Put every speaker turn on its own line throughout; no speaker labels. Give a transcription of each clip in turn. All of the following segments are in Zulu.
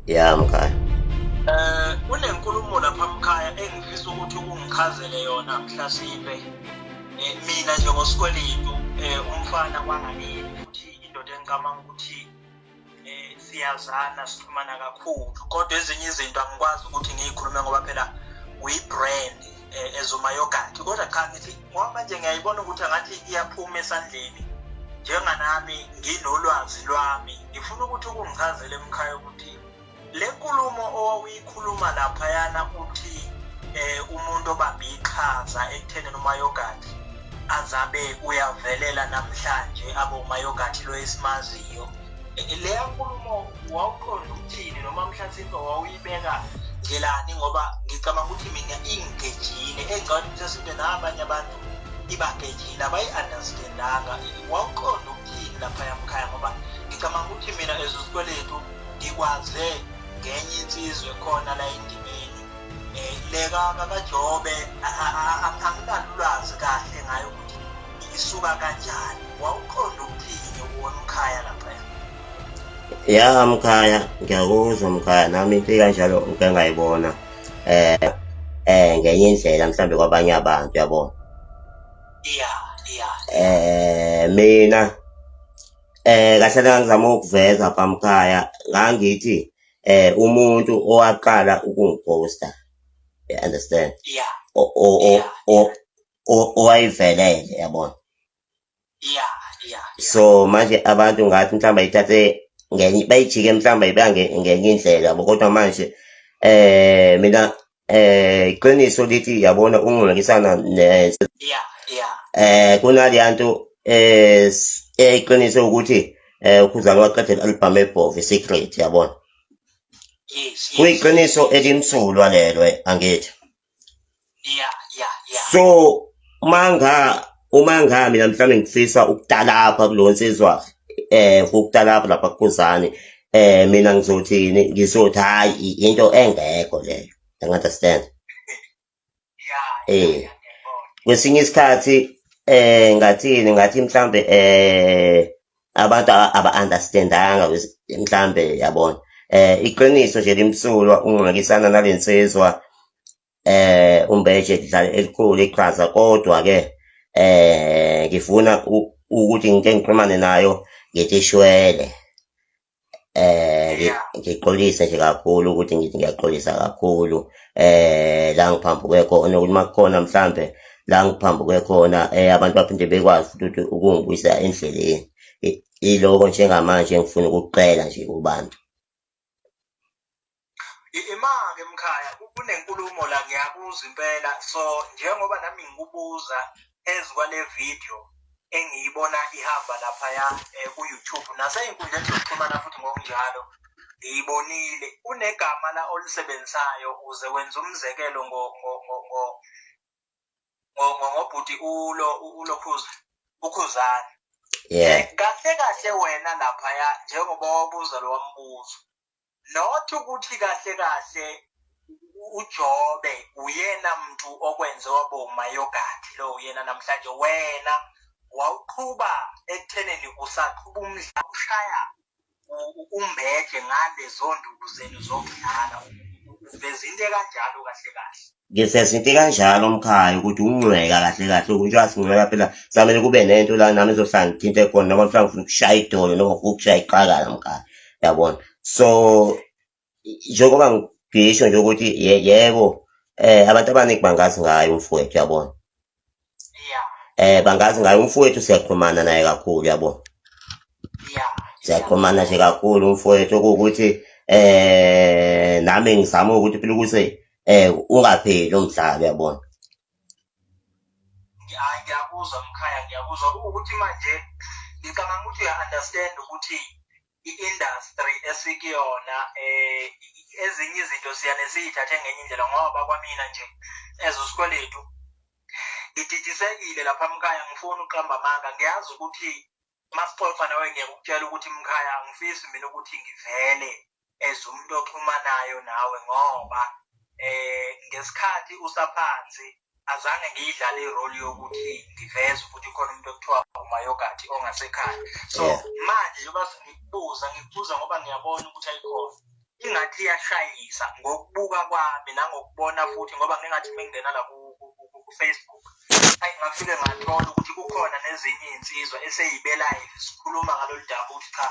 ya mkhaya um kunenkulumo
lapha mkhaya engifisa ukuthi ungichazele yona mhlasipe um mina njengosikweletu um umfana kwanganini futhi indoda engicamanga ukuthi um siyazana sixhumana kakhulu kodwa ezinye izinto angikwazi ukuthi ngiyikhulume ngoba phela uyi-brand eh, ezuma yogathi kodwa cha ngithi ngoba manje ngiyayibona ukuthi angathi iyaphuma esandleni njenganami nginolwazi lwami ngifuna ukuthi ukungichazele emkhaya ukuthi le nkulumo owawuyikhuluma laphayana uthi eh umuntu obambe iqhaza ekutheni umayogathi azabe uyavelela namhlanje abe umayogathi lo esimaziyo leya nkulumo wawuqonda ukuthini noma mhlasimpe wawuyibeka ngelani ngoba ngicabanga ukuthi mina ingigejile engcane mhlasimpe nabanye abantu ibagejile abayi-understandanga wawuqonda ukuthini laphaya mkhaya ngoba ngicabanga ukuthi mina ezosikweletu ngikwaze ngenye insizwe khona la endimeni um eh, leka kakajobe anginalulwazi kahle ngayo ukuthi isuka kanjani wawuqonda ukuthini uwona umkhaya
laphaya ya mkhaya ngiyakuzwa mkhaya nami into kanjalo ngike ngayibona eh eh ngenye indlela mhlambe kwabanye abantu yabo ya ya eh mina eh kahle ngangizama ukuveza phamkhaya ngangithi eh umuntu owaqala ukungiphosta you understand yeah o o o o- owayivelele yabona ya ya so manje abantu ngathi mhlawumbe ayithathe ngenye bayijike mhlawumbe iba nge- ngenye indlela yabo kodwa manje eh mina eh iqiniso lithi yabona ungulungisana ne- ya ya eh kunaleya nto eh s- eh, iqiniso ukuthi eh ukhuzana waqedela album ebhova secret yabona yes yes kuyiqiniso elimsulwa lelo eh, angithi yeah yeah yeah so manga uma nga mina mhlawumbe ngifisa ukutalapha kulo nsizwa eh ukutalapha lapha kukhuzani eh mina ngizothini ngizothi hayi into engekho leyo you understand eh kwesinye isikhathi eh ngathini ngathi mhlambe eh abantu aba-understandanga mhlambe yabona eh iqiniso nje limsulwa ungxakisana nalensizwa eh umbeje dlala elikhulu iqhaza kodwa ke eh ngifuna ukuthi ngike ngixhumane nayo ngitishwele eh ngixolise nje kakhulu ukuthi ngithi ngiyaxolisa kakhulu eh la ngiphambuke khona ukuthi makukhona mhlambe la ngiphambuke khona eh abantu baphinde bekwazi ukuthi ukungibuyisa endleleni iloko njengamanje ngifuna ukucela nje kubantu
Ima-ke mkhaya kunenkulumo la ngiyabuza impela so njengoba nami ngikubuza phezu kwale video engiyibona ihamba laphaya um ku-youtube nasey'nkundleni zokuxhumana futhi ngokunjalo ngiyibonile kunegama la olisebenzisayo uze wenza umzekelo ngobhuti ulo ulokhuza ukhuzana yeah. kahle kahle wena laphaya njengoba wabuza lo wambuzo not ukuthi kahle kahle uJobe uyena mntu okwenze waboma yogathi lo uyena namhlanje wena wawuqhuba ekutheneni usaqhuba umdlalo ushaya umbeje ngalezo nduku zenu zokudlala uveza into ekanjalo kahle kahle ngifeza into
kanjalo umkhaya ukuthi ungcweka kahle kahle ukuthi wasingcweka phela samele kube nento la nami ezohlala ngithinte khona noma mhlawumbe ufuna ukushaya idolo noma ufuna ukushaya iqakala mkhaya yabona so njengoba ngisho nje ukuthi yebo um abantu abaningi bangazi ngayo umfowethu yabona eh bangazi ngayo umfowethu siyaxhumana naye kakhulu yabo siyaxhumana nje kakhulu umfowethu okuwukuthi eh nami ngizama ukuthi phela ukuthi eh ungapheli umdlalo yabona ngiyakuzwa
mkhaya ngiyakuzwa ukuthi manje ngicabanga ukuthi uya-understand ukuthi i-industry esikuyona eh ezinye izinto siyane siyithathe ngenye indlela ngoba kwamina nje as usikweletu ngididisengile lapha mkhaya ngifuna uqamba amanga ngiyazi ukuthi masixoxa nawe ngiyakutshela ukuthi mkhaya angifisi mina ukuthi ngivele as umuntu oxhumanayo nawe ngoba eh ngesikhathi usaphansi azange ngiyidlale irole yokuthi ngiveze ukuthi khona umuntu okuthiwa umayogati ongasekhaya so manje njengoba ngikubuza ngikubuza ngoba ngiyabona ukuthi ayikhona ingathi iyashayisa ngokubuka kwami nangokubona futhi ngoba ngingathi mengingena la ku-facebook ayi ngafike ngathola ukuthi kukhona nezinye iy'nsizwa eseyibelayo sikhuluma ngalolu daba ukuthi cha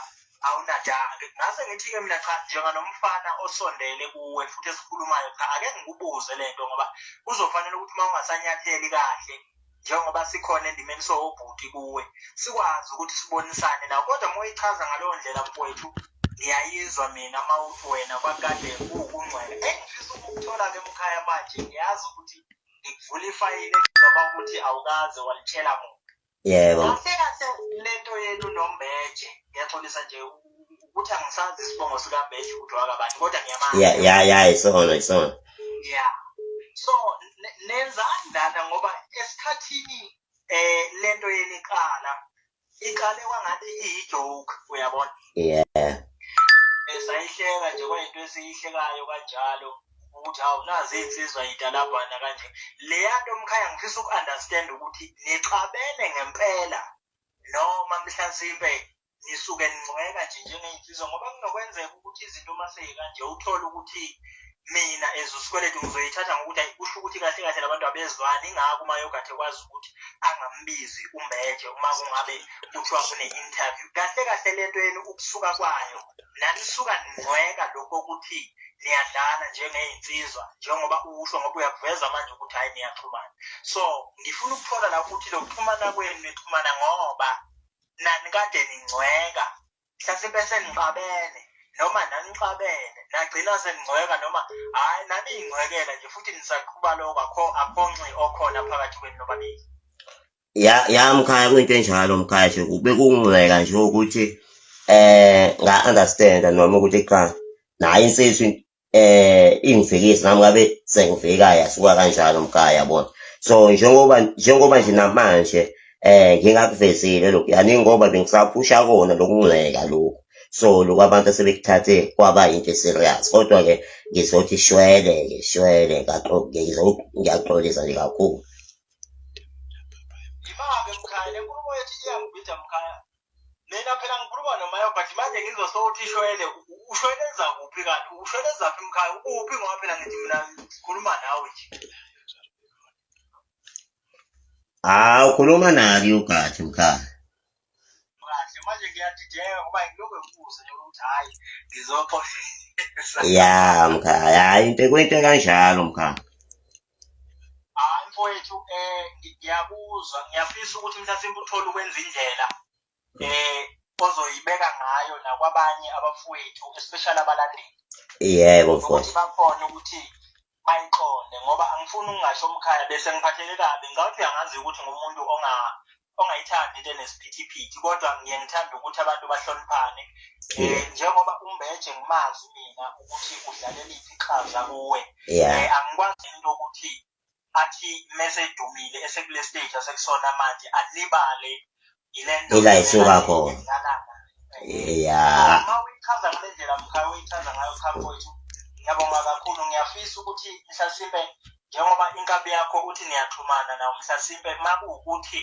awunadake ngase ngithi-ke mina cha njenganomfana osondele kuwe futhi esikhulumayo cha ake ngikubuze le nto ngoba kuzofanele ukuthi uma ungasanyatheli kahle njengoba sikhona endimeni sowobhuti kuwe sikwazi ukuthi sibonisane nawo kodwa uma uyichaza ngaleyo ndlela mfowethu ngiyayizwa mina uma uthi wena kwakade kuwukungcwela engifisa ukukuthola-ke mkhaya manje ngiyazi ukuthi ngikuvula ifayile ngoba ukuthi awukaze walitshela muntu yebo kahle
kahle
lento yenu nombeje ngiyaxolisa nje ukuthi angisazi isibongo sikambeje ukuthi wakabani kodwa ngiyamazi ya ya ya isona
isona ya
so nenzani lana ngoba esikhathini eh lento yenu iqala iqale kwangathi iyijoke uyabona yeah esayihleka nje kwayinto esiyihlekayo kanjalo ukuthi hawu nazi iy'nsizwa yitalabhana kanje leya nto mkhaya ngifisa uku-understand ukuthi nixabene ngempela noma mhlampe nisuke ningcweka nje njengey'nsizwa ngoba kunokwenzeka ukuthi izinto uma seyikanje uthole ukuthi mina as usikweletu ngizoyithatha ngokuthi ayi kusho ukuthi kahle kahle labantu abezwani ingakho uma yogathi ekwazi ukuthi angambizi umeje uma kungabe kuthiwa kune-interview kahle kahle le nto yenu ukusuka kwayo nanisuka ningcweka lokho okuthini niyadlana njengey'nsizwa njengoba usho ngoba uyakuveza manje ukuthi hhayi niyaxhumana so ngifuna ukuthola la ukuthi lokuxhumana kwenu nixhumana ngoba nani kade ningcweka mhlasimpe senixabene noma nanixabene nagcina seningcweka noma hhayi naniyingcwekela nje futhi nisaqhuba lokho akhonxi okhona phakathi kwenu nobabili
ya ya mkhaya kwinto enjalo mkhaya nje bekungcweka nje ukuthi eh nga understand noma ukuthi cha naye insizwe eh ingifikisi nami ngabe sengivika yasuka kanjalo mkhaya yabona so njengoba njengoba nje namanje eh ngingakuvezile lokhu yani ngoba bengisaphusha kona lokungcweka lokhu so lokhu abantu sebekuthathe kwaba into serious kodwa ke ngizothi shwele ke shwele ngaqoke ngizokuyaxolisa nje kakhulu
Yimake mkhaya lenkulumo yethi iyangibhida mkhaya. Mina phela ngikhuluma nomayo but manje ngizwa sowuthi shwele u- u- ushweleza kuphi kanti ushweleza phi mkhaya ukuphi ngoba phela ngithi mina ngikhuluma nawe nje.
Ah, ukhuluma naki ugathi mkhaya.
ya
mkhaya hayi into kwento kanjalo mkhaya
hayi mfowethu um ngiyakuzwa ngiyafisa ukuthi mhlasimbe uthole ukwenza indlela um ozoyibeka ngayo nakwabanye abafowethu especially abalandeli yebo
mfowethu bakhona
ukuthi ayiqonde ngoba angifuni ukungasho umkhaya bese ngiphatheke kabi ngicabanga uyangazi ukuthi ngumuntu onga ongayithandi into enesiphithiphithi kodwa ngiye ngithanda ukuthi abantu bahloniphane um njengoba umbeje ngimazi mina ukuthi udlaleliphi iqhaza kuwe um angikwazi into yokuthi athi mesedumile esekule stage asekusona manje alibale ila
isuka khona ya
uyichaza ngale ndlela mkhaya uyichaza ngayo khaya wethu ngiyabonga kakhulu ngiyafisa ukuthi mhlasimpe njengoba inkabi yakho uthi niyaxhumana nawo mhlasimpe uma kuwukuthi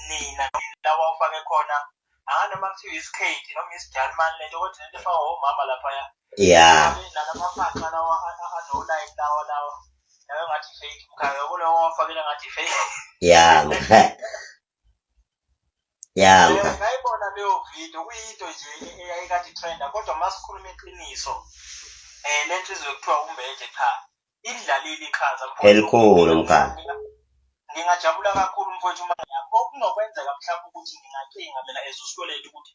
nina lawa ufake khona anganoma kuthiwa isikhethi noma isijalimane lento kodwa lento efaka omama laphaya ya nalamafaqa lawa anolayini lawa lawa nayo ngathi fake mkhaya kulowo wafakela ngathi fake ya ya ngayibona leyo video kuyinto nje eyayikade trenda kodwa masikhuluma iqiniso eh lento izokuthiwa umbeje cha idlalile iqhaza elikhulu mkhaya
ngingajabula
kakhulu mfowethu uma ngiyakho okunokwenzeka mhlawumbe ukuthi ngingacinga mina as usikweletu ukuthi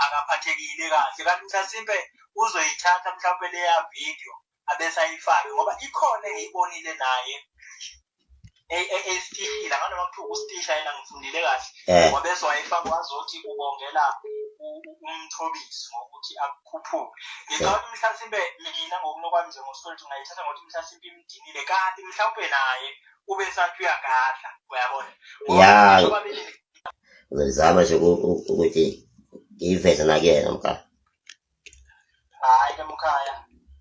akaphathekile kahle kanti mhlasimpe uzoyithatha mhlawumbe leya video abesayifaki ngoba ikhona engiyibonile naye esitishile anganoma kuthiwa ustisha yena ngifundile kahle eh. ngoba bese wayefaka wazothi ubongela umthobisi ngokuthi akukhuphuke ngicabanga ukuthi mhlasimbe mina ngokunokwami nje ngoswethu ngayithatha ngokuthi mhlasimbe imdinile kanti mhlawumbe naye ube sathi uyagadla uyabona ya
uzama nje ukuthi ngiyiveze nakuyena mkala
hayi ke mkhaya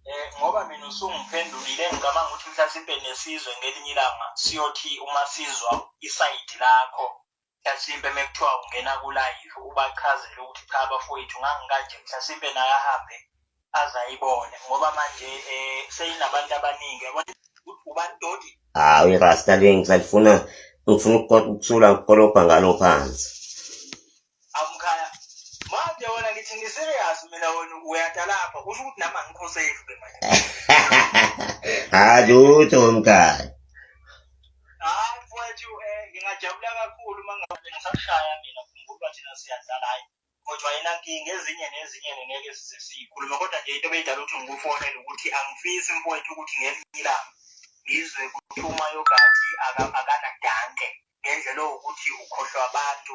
eh ngoba mina usungiphendulile ngicabanga ukuthi mhlasimpe nesizwe ngelinye ilanga siyothi uma sizwa isayidi lakho mhlasimpe mekuthiwa ungena kulive ubachazele ukuthi cha bafowethu ngangikanje mhlasimpe naye ahambe azayibone ngoba manje eh seyinabantu abaningi yabona ubani dodi hawu irasta
le ngisalifuna ngifuna ukuthula ngikolobha ngalo phansi
amkhaya manje wena ngithi ngiserious mina wena uyata lapha kusho ukuthi nami angikho safe ke manje hayi
lutho mkhaya
hayi mfowethu eh ngingajabula kakhulu uma ngabe ngisashaya mina khumbula thina siyadlala hayi kodwa yena nkinga ezinye nezinye ngeke size siyikhulume kodwa nje into beyidala ukuthi ngikufonele ukuthi angifisi mfowethu ukuthi ngelinye ilanga ngizwe kuthi umayogathi akanadanke ngendlela owukuthi ukhohlwa abantu